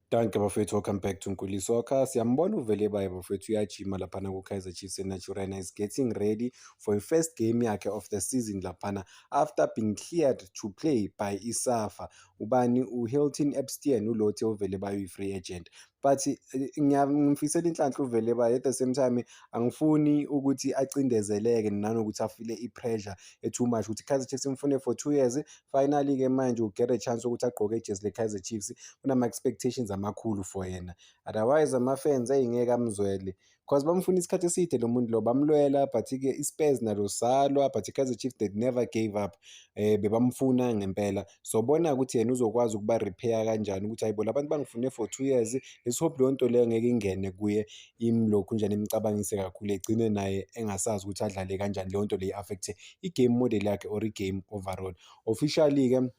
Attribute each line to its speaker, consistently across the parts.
Speaker 1: Danke bafethu, welcome back to Nkuli Soccer. Siyambona uVelebaya bafethu uyajima laphana ku-Kaizer Chiefs eNaturena. He's getting ready for a first game yakhe of the season laphana after being cleared to play by ISAFA. Ubani uHilton Epstein ulothe uVelebaya uyi-free agent. But eh, ngiyamfisela inhlanhla uVelebaya at the same time angifuni ukuthi acindezeleke nanokuthi afile i-pressure e-too much ukuthi Kaizer Chiefs imfune for two years finally ke manje u get a chance ukuthi agqoke ijezi le Kaizer Chiefs kunama expectations amakhulu for yena otherwise ama fans ayingeke amzwele because bamfuna isikhathi eside lo muntu lo bamlwela but ke iSpurs nalo salwa but iKaizer Chiefs they never gave up eh bebamfuna ngempela so bona ukuthi yena uzokwazi ukuba repair kanjani ukuthi hayibo labantu bangifune for 2 years let's hope leyo nto leyo ngeke ingene kuye imlokhu njani imcabangise kakhulu egcine naye engasazi ukuthi adlale kanjani leyo nto leyi affect i-game model yakhe or i-game overall officially-ke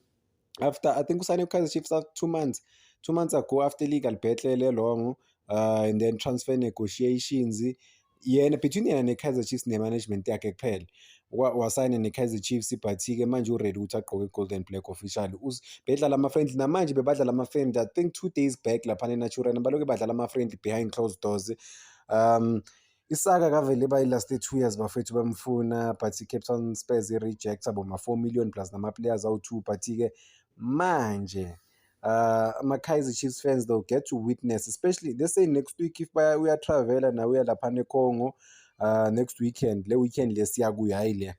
Speaker 1: after i think usane kukaizer chiefs after two months two months ago after legal battle elongo uh, and then transfer negotiations yena between yena ne-kaizer chiefs ne-management yakhe kuphela wasayine ne-kaizer chiefs ibhathi-ke manje uready ukuthi agqoke i-golden black official bedlala ama-friendly namanje bebadlala ama-friendly i think two days back laphana enatural baloke badlala ama-friendly behind closed doors um Isaka kavele bayi last two years bafethu bamfuna but i-Cape Town Spurs i-rejecta boma-four million plus nama-players awu-two but-ke manje uh, ama-Kaizer Chiefs fans they'll get to witness especially they say next week if baya uyatravela nawe uya laphana eCongo uh, next weekend le weekend le siyakuyo hhayi le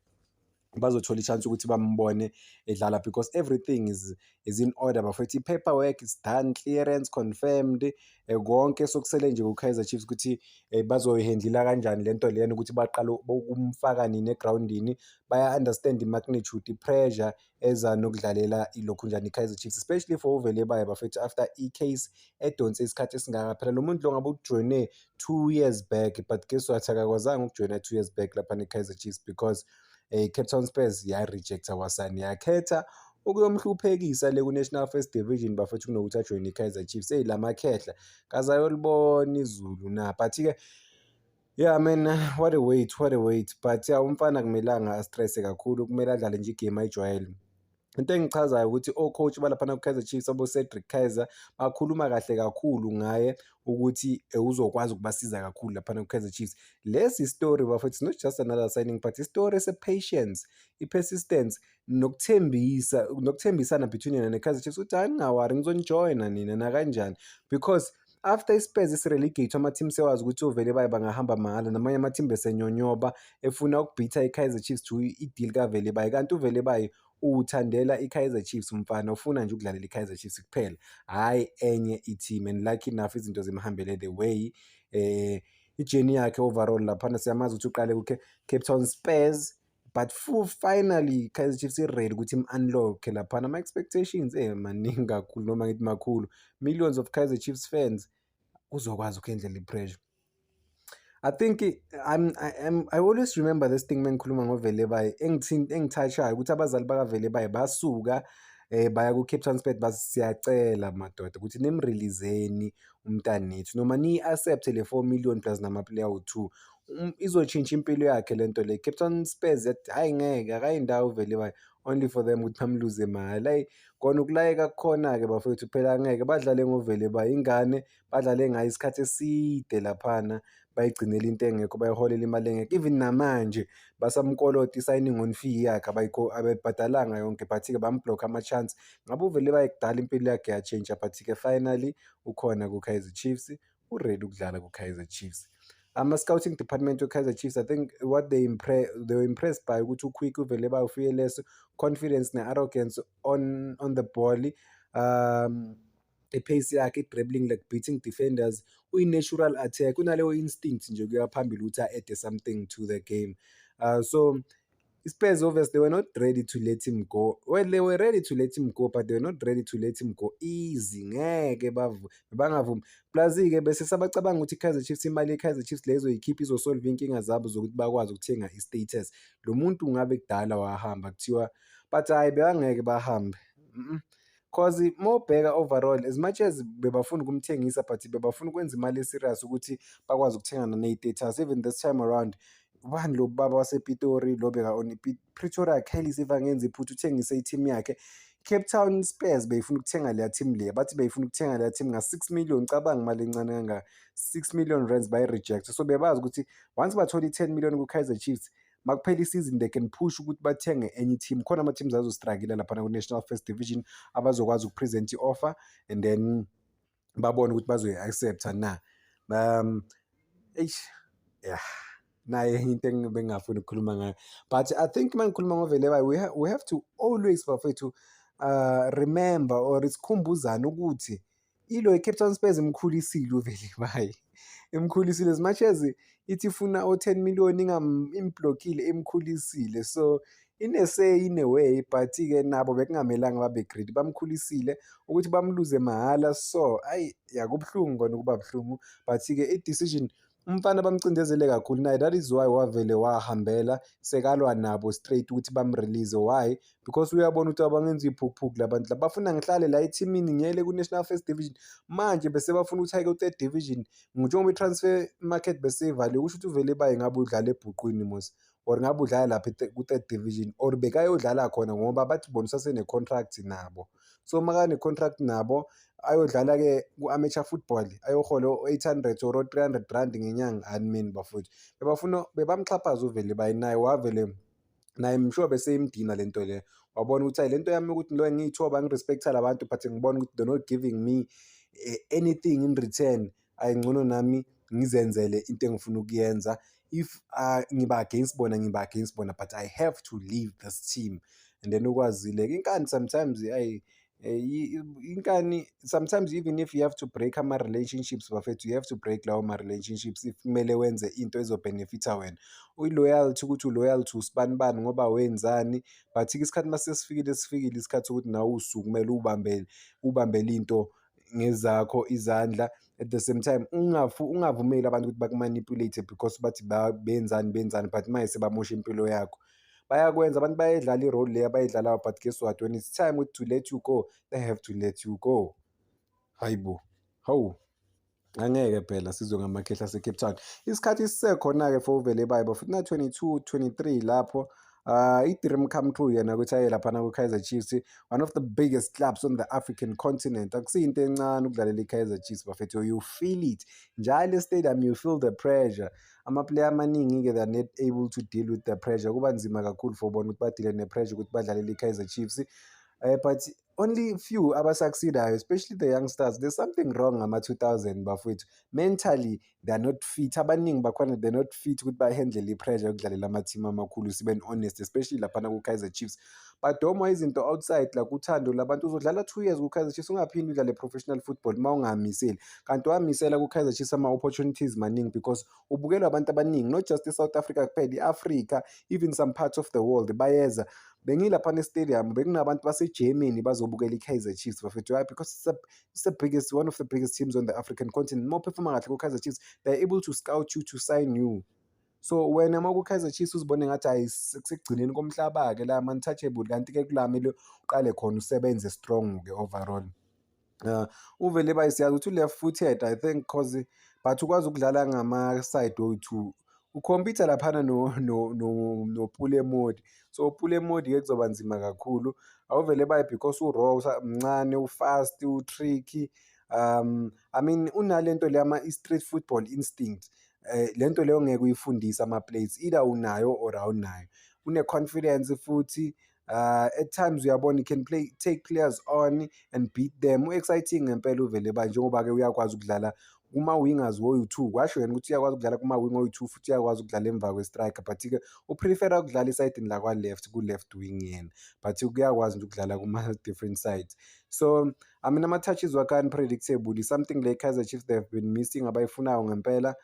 Speaker 1: bazothola i-chance ukuthi bambone edlala because everything is, is in order bafethu i-paperwork is done clearance confirmed eh, konke sokusele nje ku-kaizer chiefs ukuthi eh, bazoyihendlila kanjani le nto leyena ukuthi baqale ukumfaka nini egrawundini baya-understand i-magnitude i-pressure eza nokudlalela ilokhu njani i-kaizer chiefs especially for uvelebayo bafethu after i-case edonse isikhathi esingaka phela lo muntu lo ngabe ujoyine two years back but guess what akakwazanga ukujoyina two years back lapha ne-kaizer chiefs because um cape town spurs yarejecta wasani yakhetha ukuyomhluphekisa le ku-national first division bafethu kunokuthi ajoyine i-kaizer chiefs eyi la makhehla kazayolibona izulu na but-ke Yeah man, what a wait, what a wait. But yeah, umfana akumelanga astrese kakhulu, kumele adlale nje igame ayijwayele. into engichazayo ukuthi o-coach balaphana ku-kaizer chiefs abocedric kaizer bakhuluma kahle kakhulu ngaye ukuthi eh, uzokwazi ukubasiza kakhulu laphana ku-kaizer chiefs lesi story bafo it's not just another signing but istory ese-patience i-persistence nokuthembisa nokuthembisana between yena ne-kaizer chiefs ukuthi hayi ningawari ngizonijoyina nina nakanjani because after iSpurs isirelegate ama-team sewazi ukuthi ovele baye bangahamba mahhala namanye ama-team besenyonyoba efuna ukubhitha i-Kaizer Chiefs to i-deal kavele baye kanti uvele baye uwuthandela i-Kaizer Chiefs umfana ufuna nje ukudlalela i-Kaizer Chiefs kuphela hhayi enye i-team and lucky enough izinto zimhambele the way eh ijeni yakhe overall laphana siyamazi ukuthi uqale ku-Cape Town Spurs but full finally Kaizer Chiefs i-ready ukuthi im-unlock-e laphana ama-expectations eh maningi kakhulu noma ngithi makhulu millions of Kaizer Chiefs fans uzokwazi ukuyendlela i-pressure I think I'm, I am I always remember this thing mengikhuluma ngoVelebayi engithinta engithatshayo ukuthi abazali bakaVelebayi basuka eh baya ku Cape Town Spurs bathi siyacela madoda ukuthi nimreleaseni umntanethu noma ni accept le 4 million plus nama player u2 um, izotshintsha impilo yakhe le nto le Cape Town Spurs yathi hhayi ngeke akayi ndawo vele bayo only for them ukuthi bamluze mahhala ayi kona ukulayeka kukhona-ke bafowethu phela ngeke badlale ngovele bayingane badlale ngayo isikhathi eside laphana bayigcinela into engekho bayiholela imali engekho even namanje basamkolota i-signing on fee yakhe abebhadalanga yonke but-ke bambhlokha ama-chance ngabe uvele bayekudala impilo yakhe yatshintsha but-ke finally ukhona ku-kaizer chiefs uready ukudlala ku-kaizer chiefs ama-scouting department we-kaizer chiefs i think what they, impre they were impressed by ukuthi uquick uvele bawufike leso confidence ne-arrogance on, on the ball um ipace yakhe i-dribbling like beating defenders uyi-natural attack unaleyo instinct nje kuya phambili ukuthi a-ede something to the game uh, so Spurs obviously they were not ready to let him go. Well, they were ready to let him go, but they were not ready to let him go easy. Ngeke bangavumi. Plus ke bese sabacabanga ukuthi iKaizer Chiefs imali yeKaizer Chiefs lezo ikhipha izosolve inkinga zabo zokuthi bakwazi ukuthenga iStatus. Lo muntu ngabe kudala wahamba kuthiwa but hayi bebangeke bahambe. Mm -mm. Cause mawubheka overall as much as bebafuna ukumthengisa but bebafuna ukwenza imali eserious ukuthi bakwazi ukuthengana ney'taters even this time around ubani lo baba wasepitori lo beka-on pretoria khelis if angenza iphutha uthengise i-team yakhe Cape Town Spurs beyifuna ukuthenga leya team leya bathi beyifuna ukuthenga leya team nga-6 million cabanga imali encane kangaka 6 million rands bayi-reject so bebazi ukuthi once bathola i-10 million ku-kaizer chiefs makuphela isizini they can push ukuthi bathenge enye team khona ama teams azostrikile lapha ku National First Division abazokwazi ukupresent i-offer and then babone ukuthi bazoyi-accepta na um eish yeah naye into engibengafuni ukukhuluma ngayo but i think uma ngikhuluma ngoveleba we, ha we have to always bafethu uh, remember or sikhumbuzane ukuthi ilo iCape Town Spurs imkhulisile uVelimayi imkhulisile as much as ithi ifuna o-10 million imblokile imkhulisile so inesay in a way but-ke nabo bekungamelanga babe greedy bamkhulisile ukuthi bamluze mahhala so ayi yakubuhlungu kona ukuba buhlungu but-ke i-decision umfana bamcindezele kakhulu naye that is why wavele wahambela sekalwa nabo straight ukuthi bamrelease why because uyabona ukuthi abangenza iy'phukuphuku la bantu la bafuna ngihlale la ethimini ngiyele ku-national first division manje bese bafuna ukuthi ayike ku-third division njengoba i-transfer market beseyivaliwe kusho ukuthi uvele baye ngabe udlala ebhuqwini mos or ngabe udlala lapha ku-third division or bekayodlala khona ngoba bathi bona usasenecontract nabo so uma kanecontract nabo ayodlala-ke ku-amateur football ayohola o-eight hundred or o-three hundred rand ngenyanga animini bafowethu bebafuna bebamxhaphaza uvele bayi naye wavele naye mshobe seyimdina le nto leyo wabona ukuthi hayi le nto yami ukuthi lo ngiyithoba ngirespektha la bantu but ngibona ukuthi they're not giving me eh, anything in return ayi ngcono nami ngizenzele into engifuna ukuyenza if uh, ngiba against bona ngiba against bona but i have to leave this team and then ukwazile inkani sometimes ayi eh, inkani sometimes even if you have to break ama-relationships bafethu you have to break lawo ma-relationships if kumele wenze into ezobhenefitha wena uyi-loyalty ukuthi u-loyal to usibani bani ngoba wenzani but-ke isikhathi uma sesifikile sifikile isikhathi sokuthi nawe usukumele ubambele ubambele into ngezakho izandla at the same time ungavumeli abantu ukuthi bakumanipulate because bathi benzani benzani but maye sebamosha impilo yakho bayakwenza abantu bayayidlala i-role leyo abayidlalayo but guess what when it's time to let you go they have to let you go hayi bo hawu angeke phela sizwe ngamakhehla asecape town isikhathi sisekhona-ke for uvelebayo bafuthi na-22 23 lapho uh, i-dream come true yena ukuthi aye laphana kwi-kaizer chiefs one of the biggest clubs on the african continent akusiyinto encane ukudlalela i-kaizer chiefs bafethu you feel it njalo estadium you feel the pressure amaplayer amaningi-ke they're not able to deal with the pressure kuba nzima kakhulu for bona ukuthi badile ne-pressure ukuthi badlalele i-kaizer chiefs um uh, but only few abasucceedayo especially the youngsters there's something wrong ngama-2000 bafowethu mentally they're not fit abaningi bakhona they're not fit ukuthi bahandle i-pressure yokudlalela amathimu amakhulu siben honest especially laphana ku-kaizer chiefs badomwa izinto outside la kuthando labantu uzodlala two years ku-kaizer chiefs ungaphinde udlale professional football uma ungahamiseli kanti wamisela ku-kaizer chiefs ama-opportunities maningi because ubukelwa abantu abaningi not just i-south africa kuphela i-africa even some parts of the world bayeza bengilaphana estadium bekunabantu basegermany bazobukela i-kaizer chiefs bafethu why because it's, a, it's the biggest one of the biggest teams on the african continent uma uphefuma kahle ku-kaizer chiefs they're able to scout you to sign you so wena uma ku-kaizer chiefs uzibone ngathi hayi sekugcineni komhlaba-ke la ma-untouchable kanti-ke kulamele uqale khona usebenze strong-ke overall Uh, uvele bayi siyazi ukuthi u-left footed i think cause but ukwazi ukudlala ngama-side oyi-two ukhompyutha laphana nopule modi so upule modi-ke kuzoba nzima kakhulu awuvele bayi because uraw mncane ufast utricky um i mean unale nto le ama-street football instinct um le nto leyo ngeke uyifundise ama-plates either unayo or awunayo une-confidence futhi Uh, at times uyabona can play take players on and beat them u-exciting ngempela uvele ba njengoba-ke uyakwazi ukudlala kuma-wingers woyu-two kwasho yena ukuthi uyakwazi ukudlala kuma-wing oyu-two futhi uyakwazi ukudlala emva kwe-striker but-ke uprefera ukudlala esayidini lakwa-left ku-left wing yena but kuyakwazi nje ukudlala kuma-different sides so I mean ama-touches wakhe unpredictable something le Kaizer Chiefs they have been missing abayifunayo ngempela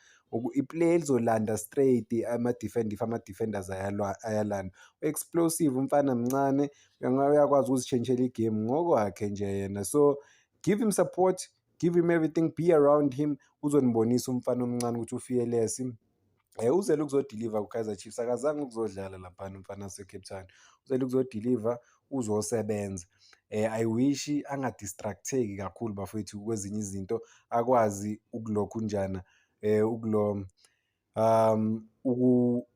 Speaker 1: iplay elizolanda straight ama-defend if ama-defenders ayalanda u-explosive umfana mncane uyakwazi ukuzitshentshela igame ngokwakhe nje yena so give him support give him everything be around him uzonibonisa umfana omncane ukuthi ufiyelesi Eh uzele ukuzodeliver kuKaizer Chiefs akazange ukuzodlala lapha umfana waseCape Town. Uzele ukuzodeliver uzosebenza. Eh I wish angadistracteki kakhulu bafowethu kwezinye izinto akwazi ukulokhu njana eh ukulom um uku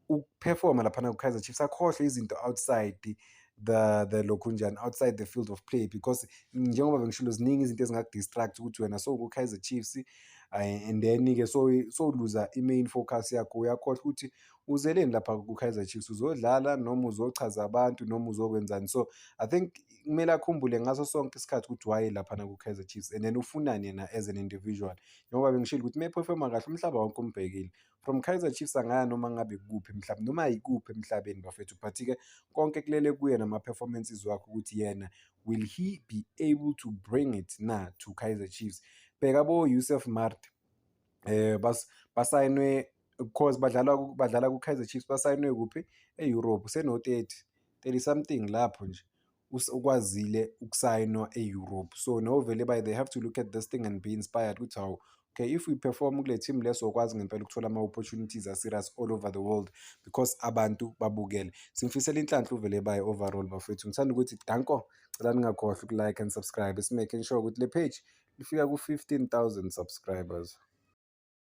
Speaker 1: ukuperforma laphana ku-kaizer chiefs akhohlwe izinto outside the the lokhu njani outside the field of play because njengoba bengishilo ziningi izinto ezingakudistract ukuthi wena so ku-kaizer chiefs eh, and then-ke so sowuluza i-main focus yakho uyakhohlwa ukuthi uzeleni lapha ku-kaizer chiefs uzodlala noma uzochaza abantu noma uzokwenzani so i think kumele akhumbule ngaso sonke isikhathi ukuthi waye laphana ku-kaizer chiefs and then ufunani yena as an individual njengoba bengishilo ukuthi uma ephefoma kahle umhlaba wonke umbhekile from Kaizer Chiefs angaya noma ngabe kuphi mhlawumbe noma yikuphi emhlabeni bafethu but ke konke kulele kuye nama performances wakhe ukuthi yena will he be able to bring it na to Kaizer Chiefs bheka bo Yusuf Mart eh bas basayinwe because badlala badlala ku Kaizer Chiefs basayinwe kuphi eEurope seno 30 30 something lapho nje ukwazile ukusayinwa e-europe so no vele by they have to look at this thing and be inspired ukuthi hawu okay if we perform kule team leso okwazi ngempela ukuthola ama-opportunities aserious all over the world because abantu babukele simfisela inhlanhla uvele baye overall bafethu ngithanda ukuthi danko cela ningakhohlwa ukulike and subscribe simaking sure ukuthi le page lifika ku-15000 subscribers